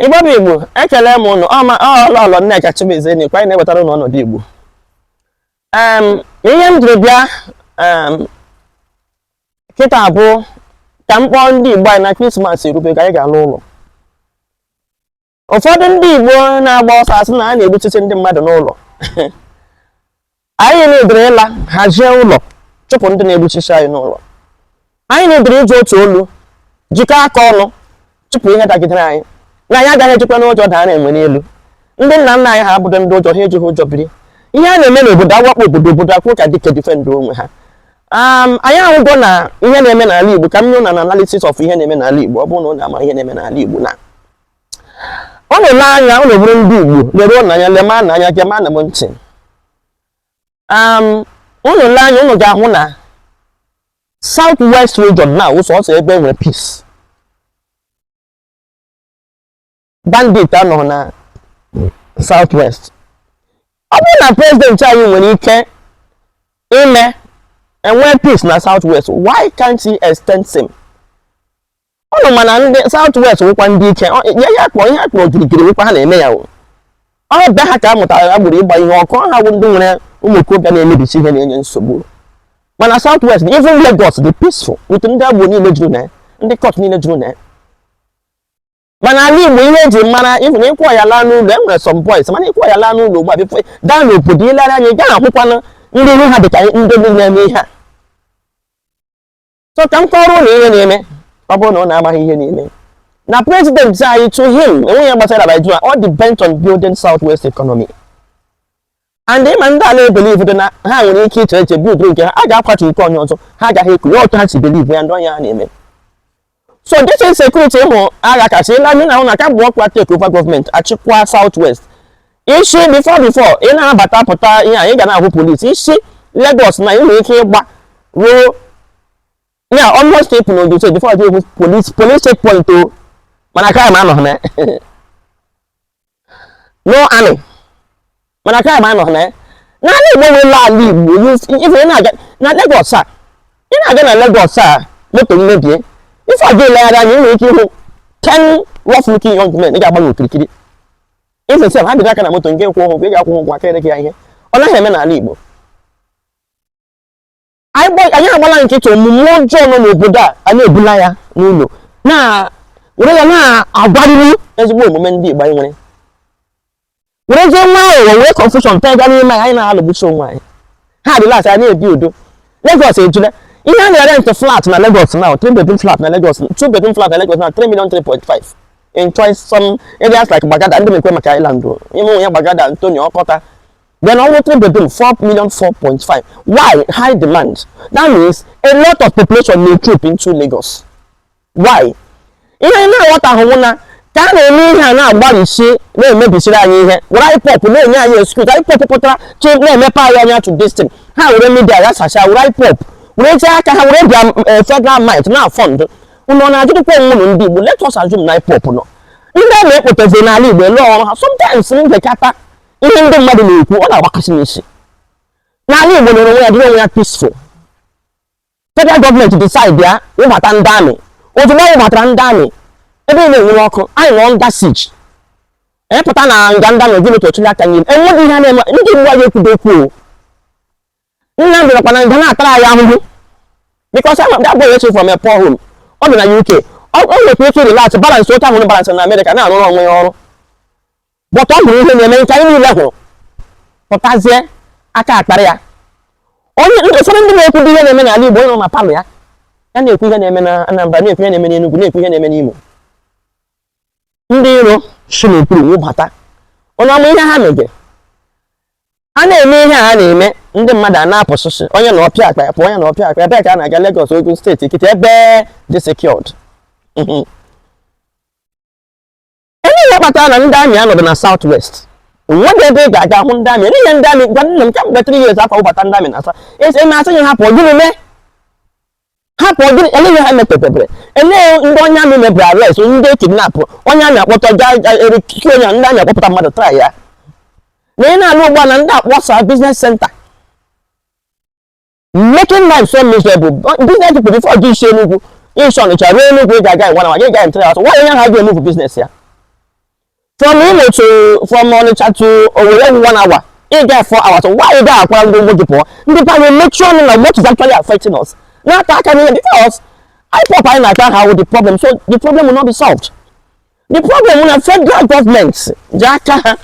Igbo bụ Igbo ekele m ụnụ ọ Lọlọ Nneka Chimezie na anyị na-ewetara ụnụ ọnọdụ Igbo ihe m jiri bịa kịta bụ ka m kpọọ ndị Igbo anyị na Krismas erube ka anyị ga-ala ụlọ ụfọdụ ndị Igbo na-agba ọsọ asị na a na-egbuchisi ndị mmadụ n'ụlọ anyị needịrị ịla hazie ụlọ chụpụ ndị na-egbuchisi anyị n'ụlọ anyị needịrị iji otu olu jikọọ aka ọnụ chụpụ ihe dagidere anyị na anyị agaghị ejikwanụ ụjọ daara enwe n'elu ndị nna nna anyị ha abụghị ndị ụjọ ha ejighị ụjọ biri ihe na-eme n'obodo a wakpo obodo obodo akwụ ka dike defendụọ onwe ha Um, anyị ahụgo na ihe na-eme n'ala Igbo ka m nye unu analysis of ihe na-eme n'ala Igbo ọ bụrụ na unu amaghị ihe na-eme n'ala Igbo na unu lee anya unu bụrụ ndị igbo leruonụ anya lemanụ anya gemanụ m ntị unu lee anya unu ga-ahụ na south west region na ọ sọsọ ebe nwere peace bandit anọghị na south west ọ bụrụ na prezidenti anyị nwere ike ime e nwee peace na south west why can't he extend same ụnụ ma na ndị south west nwekwa ndị ike ya ya kpọọ ihe a kpọrọ gịrịgịrị nwekwa ha na-eme ya ọ bịa ha ka a mụtara agboro ịgba ihe ọkụ ha bụ ndị nwere ụmụ okorobịa na-emebisi ihe na-enye nsogbu mana south west even Lagos dị peaceful with ndị agboro niile juru na ya ndị cult niile juru na ya mana ala igbo ihe e ji mara even ịkwụ ya laa n'ụlọ e nwere some boys mana ịkwụ ya laa n'ụlọ ugbu a before gaa n'obodo i lere anya ị gaghị ahụkwanụ ndị ihu ha dịka ndị na-eme ihe a so ka m kọọrọ unu ihe na-eme ọ bụrụ na unu amaghị ihe na-eme na prezidenti anyị to him e nweghị ihe gbasara Nigeria ọ dị bent on building south west economy and ị ma ndị a na-ebelieve na ha nwere ike iche eche buildụọ nke ha a ga-akwatu nke onye ọzọ ha agaghị ekwu ya otu ha si believe ya ndị onye ha na-eme so this insecurity ị hụ aghakasị ala anyị na-ahụ na kamgbe ọkwa take over gọọmenti achịkwa south west i si before before ị na-abata pụta ihe a ị ga na-ahụ polisi i si Lagos na ị nwere ike ịgbaruo ya almost steepụ na Ogun State before gị hụ polisi polisi checkpoint o mana crime anọghị na no army mana crime anọghị na n'ala Igbo nwere ala Igbo if ị na-aga na Lagos a ị na-aga na Lagos a moto emebie ife ọjọọ i legharịa anya ị nwere ike ịhụ 10 rough looking young men ga-agba gị okirikiri If ị sị ha bịtụ aka na moto nke kwụ ụgwọ, ị ga-akwụ ụgwọ aka ere gị ya ihe. Ọ naghị eme n'ala Igbo. Anyị gba- anyị agbala nkịtị omume ọjọọ nọ n'obodo a, a na-ebula ya n'ụlọ, na were ya na-agwarịrị ezigbo omume ndị Igbo anyị nwere. Werezie nwayọọ wee confusion pega n'ime anyị, anyị na-alụgbusi onwe anyị. ha dị lasị anyị ebi udo Lagos ejula ihe a na-erent flat na Lagos now three bedroom flat na Lagos two bedroom flat na Lagos now three million three point five in choice some areas like Gbagada adị m ekwu maka island o ime onwe ya Gbagada Anthony Ọkọta then ọ wụ three bedroom four million four point five why high demand that means a lot of population na-etroop into Lagos why ihe anyị na-aghọtahụ bụ na ka a na-eme ihe a na-agbalịsi na-emebisiri anyị ihe were ipop na-enye anyị excuse ipop pụtara chi na-emepe anyị anya to this thing ha were media ya sacha were ipop were jee aka ha were bịa eh, federal might na-afund unu ọ na-ajụdịkwa onwe unu ndị Igbo let us assume na ipop nọ ndị a na-ekpotezi n'ala Igbo ele uru ha sometimes m gekata ihe ndị mmadụ na-ekwu ọ na-agbakasị m isi na ala Igbo nwere onwe ya dịrị onwe ya peaceful federal gọọmenti decide ya wụbata ndị amị ozugbo a wụbatara ndị amị ebe a na-enwuru ọkụ anyị nọ under siege ịpụta na nga ndị amị gịnị ka ọchịrị aka nyere enweghị ihe a na-eme ndị Igbo anyị ekwudo okwu o Nnamdi arakwa na nga na-atara anyị ahụhụ because that boy wasn't from a poor home ọ bi na UK ọ nwekwa ike relax balance otu ahụ balance na Amerịka na-arụrụ onwe ya ọrụ but ọ hụrụ ihe na-eme nke anyị niile hụrụ pụtazie aka akpara ya onye ụfọdụ ndị na-ekwu ihe na-eme n'ala Igbo nọ na palọ ya ya na-ekwu ihe na-eme na Anambra na-ekwu ihe na-eme n'Enugu na-ekwu ihe na-eme n'Imo ndị iro si n'okpuru wụbata ụnụ ama ihe ha mege a na-eme ihe a na-eme ndị mmadụ a na-apụsịsị onye na ọpịa akpa ya pụ onye na ọpịa akpa ebee ka a na-aga Lagos Ogun state Ekiti ebe dị secured Ele ihe kpatara na ndị amị anọdụ na South West? O nwedị ebe ị ga-aga hụ ndị amị. Ele ihe ndị amị gwanụ m kemgbe 3 years or 4 a wụbata ndị amị na South East eme asị ya hapụ gịnị mee? Hapụ gịnị ele ihe ha metebebere? Eledị onye amị mebere arrest, ndị kidnap, onye amị akpọta ga eru kiki onye ndị amị akpọpụta mmadụ try ya. Na ị na-alụ ugbu a na ndị akpọsa business center. making life so miserable business people before gị esi enugwu esi ọnịcha ruo enugwu ị ga-aga ngwa na gị ga-entere atụ nwa onye ha ga-emove business ya from imo to from ọnịcha to owere one hour ị ga four hours why ị ga akwara ndị Igbo gị pụọ ndị ba anyị emechi ọnụ na what is actually affecting us na-ata aka n'ihe because ipop anyị na-ata ha wụ the problem so the problem will not be solved the problem na federal government ji aka ha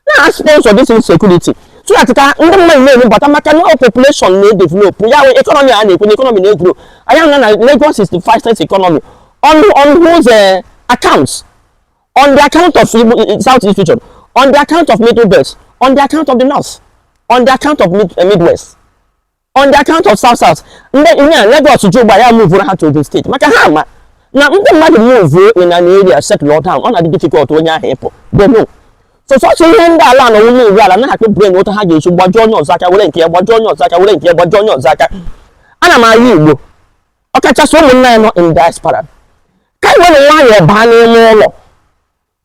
na-asponsor this insecurity so that ka ndị mmadụ na-enubata maka na population na-edevelop ya wụ economy a na-ekwu na economy na-egrow anya na na Lagos is the fastest economy on on whose uh, accounts on the account of South East region on the account of Middle Belt on the account of the North on the account of Mid uh, Midwest on the account of south south ndị ihe a Lagos ji ugbu a mụvụrụ ha to Ogun steeti maka ha ma na ndị mmadụ move in an area settle down ọ na-adị difficult onye ahụ ịpụ they know so sọsọ ihe ndị ala na onye ọbụla na-akpụ brain otu ha ga-eji gbajuo onye ọzọ aka were nke ya gbajuo onye ọzọ aka were nke ya gbajuo onye ọzọ aka ana m ayọ Igbo ọkachasị ụmụnna anyị nọ in diaspora ka anyị were nwayọọ baa n'ime ụlọ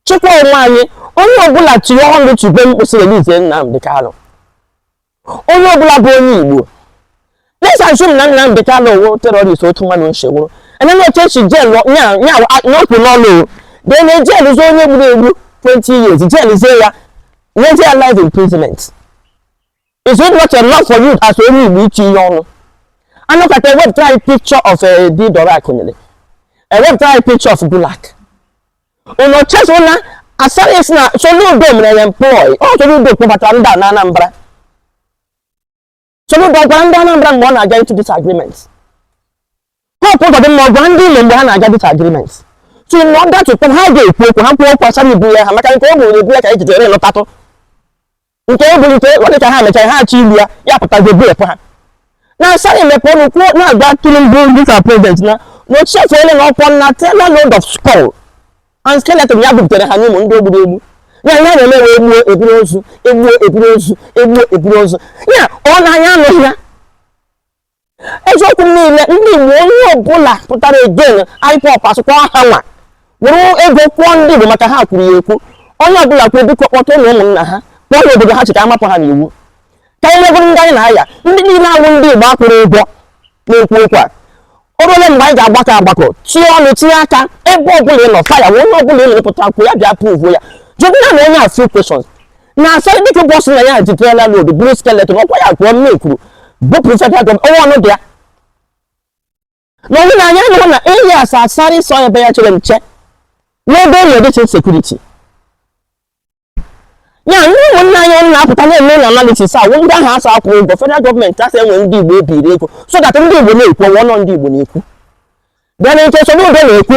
chịkwa onwe anyị onye ọbụla tinye ọnụ tibe mkpu sị release Nnamdi Kanu onye ọbụla bụ onye Igbo let's assume na Nnamdi Kanu wụ terrorist otu mmadụ nchewụrụ enene otu e si jail ya pụọ n'ụlọ then a jail zụọ onye gburu egbu 20 years jailzie ya nyezi ya life imprisonment is it not enough for you as onye Igbo iche ihe ọnụ anọkata ewepụta anyị picture of a eh, di Dora Akunyili ewepụta anyị picture of Gulak ụnụ chezọla Asari sị na Soludo mere ya employ ọ Soludo kpọbatara ndị a na Anambra Soludo gwara ndị Anambra mgbe ọ na-aga into this agreement Hope Uzodinma ọ gwara ndị Imo mgbe ha na-aga this agreement so in order to ha ga-ekwu okwu ha kwuo okwu Asari ibu ya ha maka nke ọ bụrụ na ebu ya ka ejidere lụtatụ nke o buru nke ọ dịka ha mechara ha achọ ilu ya ya pụtago bepụ ha na Asari emepe ọnụ kwuo na-agwa Tinubu dịka president na na o chefuola na ọkwa na trailer load of skull and skeleton ya butere ha na ọ wụ ndị o gburu egbu ya ya na-eme wee egbuo eburu ozu egbuo eburu ozu egbuo eburu ozu ya ọ na-anya anụghị ya eziokwu niile ndị Igbo onye ọbụla pụtara against IPOB asụkwa ha nwa were ego kwụọ ndị Igbo maka ha kwuru ya ekwu onye ọbụla kwuru biko kpọta ụlọ ụmụnna ha kpọọ ya obodo ha chịka amapụ ha n'iwu ka anyị nwegoro ndị anyị na-aya ndị niile awụ ndị Igbo akwụrụ ụgwọ na-ekwu okwu a oruole mgbe anyị ga-agbakọ agbakọ tinye ọnụ tinye aka ebe ọbụla ị nọ fire onye ọbụla ị na-apụta ekwu ya bịa prove ya jụgụna na onye a few question na Asari Dokubo sị na ya ji trailer load buru skeleton ọkwa ya kwuo mme kwuru bupụrụ federal gọọmenti ọnwa ọnụ dị ya na onye na-anya anụrụ na eyi asa Asari sọ ebe ya chere nche n'ebe e nwere insecurity ya ndị ụmụnna anyị ọnụ na-apụta na-eme na analysis a ndị ahụ asa akwụ ụgwọ federal gọọmenti asị enwe ndị Igbo ebiri ego so that ndị Igbo na-ekwu ọnwa ọnọ ndị Igbo na-ekwu bịa na nke Soludo na-ekwu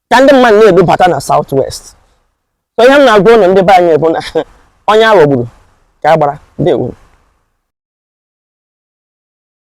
ka ndị mmadụ na-ebubata na south west so ihe m na-agwa ụnụ ndị be anyị bụ na onye aghọgburu ka a gbara ndewo